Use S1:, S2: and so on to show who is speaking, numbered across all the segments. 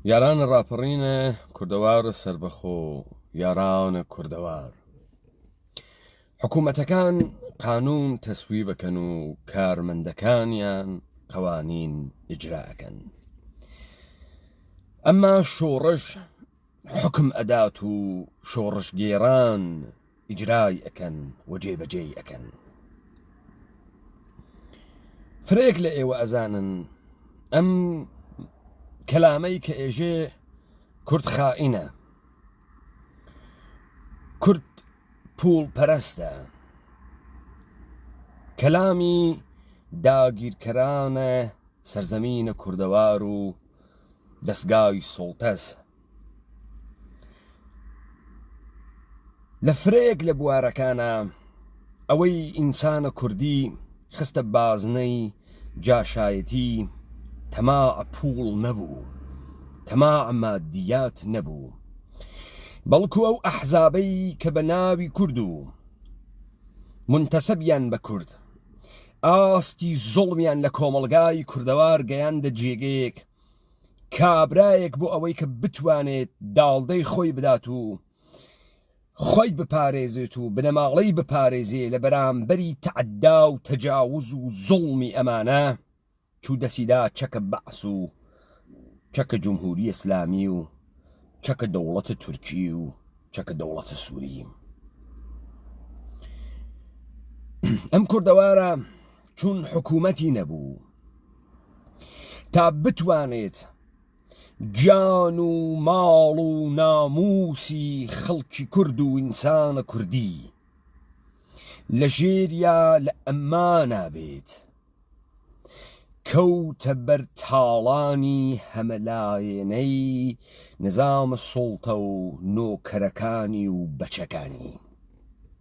S1: یارانە ڕاپەڕینە کوردەوارە سربەخۆ یارانە کوردەوار حکوومەتەکان قانون تەسوی بەکەن و کارمەندەکانیان قوانین ئیجراکەن ئەمما شۆڕش حکم ئەدات و شۆڕشگێران ئیجرای ئەکەن و جێ بەجێی ئەکەن فرەیەک لە ئێوە ئەزانن ئەم کەلامەی کە ئێژێ کورد خائینە کورد پول پەرستە کەلامی داگیرکەرانە سەرزەمینە کوردەوار و دەستگای سڵتەس لە فرەیەک لە بوارەکانە ئەوەی ئینسانە کوردی خستە بازنەی جاشایەتی تەما پووڵ نەبوو تەما مادیات نەبوو بەڵکو ئەو ئەحزابەی کە بە ناوی کورد و منتەسەبیان بە کورد ئاستی زۆڵمیان لە کۆمەلگای کوردەوار گەیاندە جێگەیەک کابرایەک بۆ ئەوەی کە بتوانێت داڵدەی خۆی بدات و خۆی بپارێزێت و بنەماڵەی بپارێزێ لە بەرامبەری تەعدا و تەجاوز و زوڵمی ئەمانە چوو دەسیدا چەکە بەعس و چەکە جمهوری ئسلامی و چەکە دەوڵەتە تورکی و چەکە دەوڵەتە سووری ئەم کوردەوارە چون حکوومەتی نەبوو تا بتوانێت گیان و ماڵ و ناموسی خەڵکی کورد و ئینسانە کوردی لە ژێریا لە ئەمما نابێت کەوتە بەر تاڵانی هەمەلایەنەی نظامە سوڵتە و نۆکەرەکانی و بەچەکانی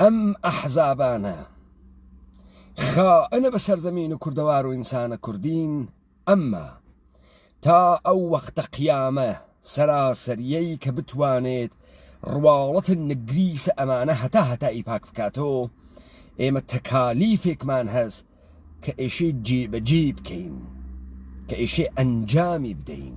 S1: ئەم ئەحزابانە خائنە بە سەرزەمین و کوردەوار و ئینسانە کوردین ئەمما تا ئەو وەختە قیامە سەراسەریەی کە بتوانێت ڕواڵەت نگریسە ئەمانە هەتا هەتا ئی پاک بکاتەوە ئێمە تەکالیفێکمان هەست کە ئێشەی جێبەجێ بکەین کە ئێشێ ئەنجامی بدەین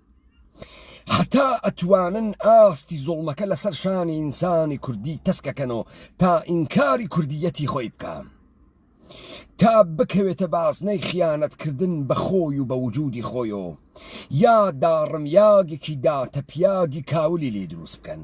S1: هەتا ئەتوانن ئاستی زوڵمەکە لەسەر شانی ئینسانی کوردی تەسکەکەنەوە تا ئینکاری کوردیەتی خۆی بکە تا بکەوێتە بازنەی خیانەتکردن بە خۆی و بە وجودی خۆیۆ یا داڕمیاگێکی داتەپیاگی کاولی لێ دروست بکەن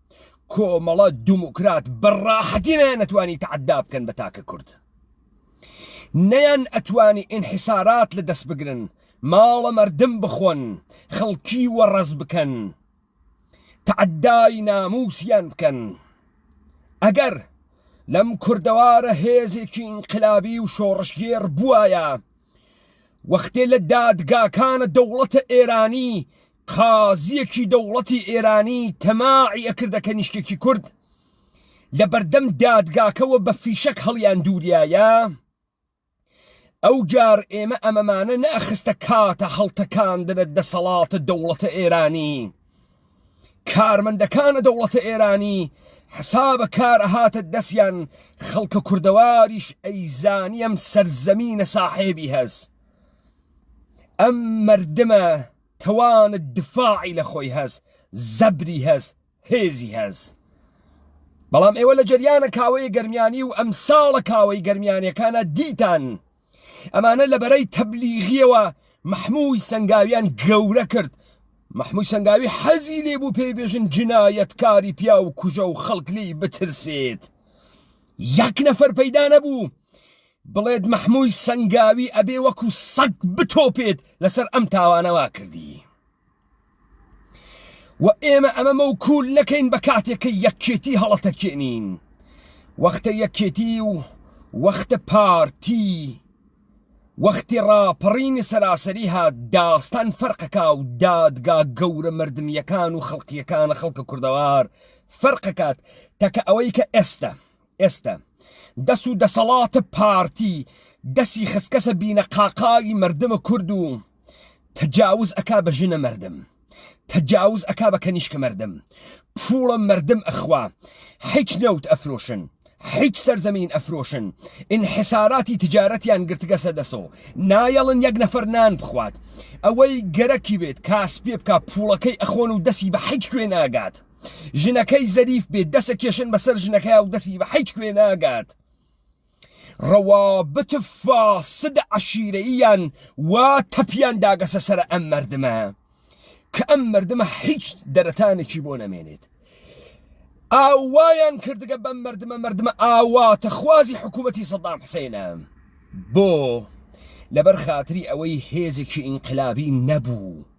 S1: کۆمەڵە دموکرات بەڕاحەتی نەیانەتوانی تەعدا بکەن بە تاکە کورد نەیان ئەتوانی ئینحسارات لە دەست بگرن ماڵە مردم بخۆن خەڵکی وەڕز بکەن تەعدای ناموسیان بکەن ئەگەر لەم کوردەوارە هێزێکی ئینقلابی و شۆڕشگێر بواە وەختێ لە دادگاکانە دەوڵەتە ئێرانی قازیەکی دەوڵەتی ئێرانی تەماعی ئەکردە کەنیشکێکی کورد لە بەردەم دادگاکەوە بە فیشەک هەڵیان دووریایە ئەو جار ئێمە ئەمەمانە نەخستە کاتە هەڵتەکاندنە دەسەڵاتە دەوڵەتە ئێرانی کارمەندەکانە دەوڵەتە ئێرانی حسابە کارە هاتە دەستیان خەڵکە کوردەواریش ئەیزانیم سەرزەمینە ساحێبی هەز ئەم مردمە توانت دفاعی لە خۆی هەس زەبری هەس هێزی هەس بەڵام ئێوە لە جەریانە کاوەیە گەرمیانی و ئەم ساڵە کاوەی گەرمیانەکانە دیتان ئەمانە لە بەرەی تەبلیغیەوە مححمووی سنگاویان گەورە کرد مححمووی سنگاوی حەزی لێ بوو پێی بێژن جنایەتکاری پیا و کوژە و خەڵک لی بترسێت یەک نەفەر پەیدا نەبوو بڵێت مەحموی سەنگاوی ئەبێ وەکو سەگ بتۆپێت لەسەر ئەم تاوانەوا کردی و ئێمە ئەمە مەوکول نەکەین بە کاتێکە یەکێتی هەڵەتەکێنین وەختە یەکێتی و وەختە پارتی وەختی ڕاپەڕینی سەراسەری هات داستان فەرقەکە و دادگا گەورە مردمیەکان و خەڵقیەکانە خەڵکە کوردەوار فەرقەکات تەکە ئەوەی کە ئێستا ئێستە دەس و دەسەڵاتە پارتی دەسی خسکەسە بینە قاقاوی مردمە کورد و تەجاوز ئەکا بە ژنە مردم تەجاوز ئەکا بە کەنیشکە مردم پوڵە مردم ئەخوا حیچ نەوت ئەفرۆشن حیچ سەرزەمین ئەفرۆشن ئینحساراتی تجارەتیان گرتگەسە دەسەوە نایەڵن یەک نەفەر نان بخوات ئەوەی گەرەکی بێت کاس پێ بک پوڵەکەی ئەخۆن و دەسی بە حیچ کوێ ناگات ژنەکەی زەریف بێت دەسە کێشن بەسەر ژنەکەی و دەستی بە حیچ کوێ ناگات ڕەوابت فاسد عشیرەیان وا تەپیان داگەسە سەر ئەم مردمە کە ئەم مردمە حیچ دەرەتانێکی بۆ نەمێنێت ئاوایان کردگە بەم مردمە مردمە ئاواتە خوازی حکوومەتی سەدام حسێنە بۆ لەبەر خاتری ئەوەی هێزێکی ئینقلابی نەبوو.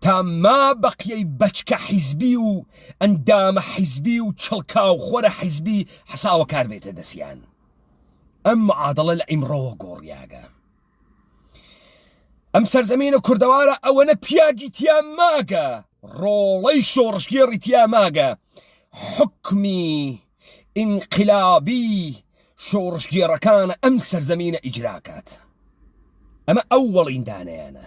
S1: تا ما بەقیەی بەچکە حیزبی و ئەندامە حیزبی و چڵکاو خۆرە حیزبی حەساوە کار بێتە دەسیان ئەم معادڵە لە ئیمڕەوە گۆڕیاگە ئەم سەرزەمینە کوردەوارە ئەوەنە پیاگی تیا ماگە ڕۆڵەی شۆڕشگێڕی تیا ماگە حکمی ئینقلابی شۆڕشگێڕەکانە ئەم سەرزەمینە ئیجراکات ئەمە ئەو وەڵیندانیانە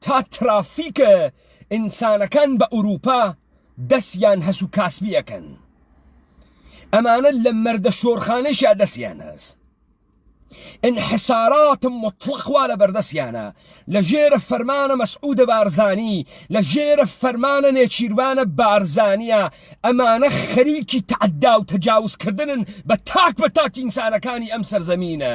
S1: تا ترافیکە ئینسانەکان بە ئورووپا دەسیان هەس و کاسبیەکەن ئەمانە لە مەردە شۆرخانەشیا دەسیان هەس انحساراتم مطلقوا لە بەردەسیانە لە ژێرە فەرمانە مەسعودە بارزانی لە ژێرە فەرمانە نێچیروانە بارزانە ئەمانە خەریکی تعدا و تەجاوزکردنن بە تاک بە تاک ئینسانەکانی ئەم سەرزەمینە.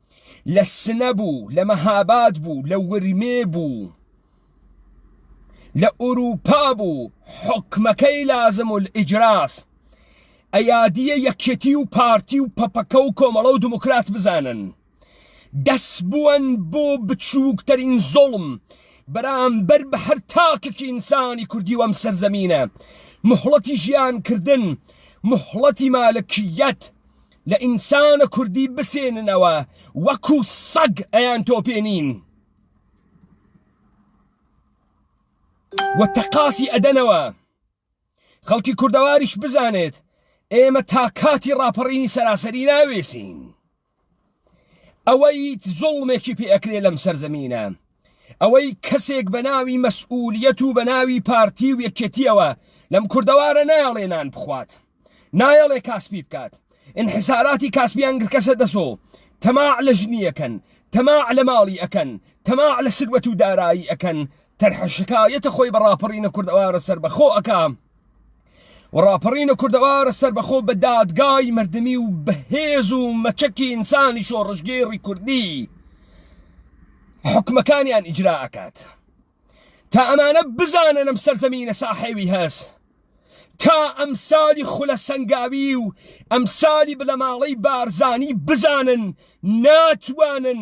S1: لە سنە بوو لە مەهاباد بوو لە ورمێ بوو لە ئوروپا بوو حکمەکەی لازم و ئیجراس ئەیادیە یەکێتی و پارتی و پەپەکە و کۆمەڵە و دموکرات بزانن دەس بوون بۆ بچووکترین زۆڵم بەرامبەر بە هەر تاکێکی ئینسانی کوردی وەم سەرزەمینە مهڵەتی ژیان کردن مهڵەتی مالکیت لە ئینسانە کوردی بسێننەوە وەکو سەگ ئەیان تۆپێنین و تەقاسی ئەدەنەوە خەڵکی کوردەواریش بزانێت ئێمە تا کاتی ڕاپەڕینی سەراسەری ناوێسین ئەوەی زوڵمێکی پێ ئەکرێ لەم سەرزەمینە ئەوەی کەسێک بە ناوی مەسئولیەت و بە ناوی پارتی و یەکێتیەوە لەم کوردەوارە نایەڵێ نان بخوات نایەڵێ کاسپی بکات انحساراتی کاسپیان گرکەسە دەسۆ تەماع لە ژنیەکەن تەماع لە ماڵی ئەکەن تەماع لە سروەت و دارایی ئەکەن تەرحە شکایەتە خۆی بە ڕاپەڕینە کوردەوارە سەربەخۆ ئەکا و ڕاپەڕینە کوردەوارە سەربەخۆ بە دادگای مردمی و بەهێز و مەچەکی ئینسانی شۆڕشگێڕی کوردی حکومەکانیان ئیجرا ئەکات تا ئەمانە بزانن ئەم سەرزەمینە ساحێوی هەست تا ئەمسالی خولە سەنگاوی و ئەمسالی بلەماڵەی بارزانی بزانن ناتوانن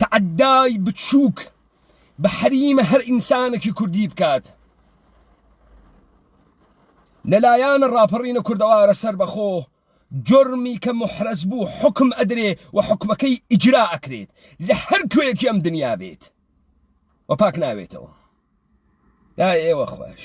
S1: تەعەدای بچووک بە حەریمە هەر ئینسانێکی کوردی بکات لەلایەن ڕاپەڕینە کوردەوارە سەربەخۆ جرمی کە محرەز بوو حکم ئەدرێ و حکومەکەی ئیجرا ئەکرێت لە هەر کوێکی ئەم دنیا بێت و پاک ناوێتەوە دا ئێوە خۆش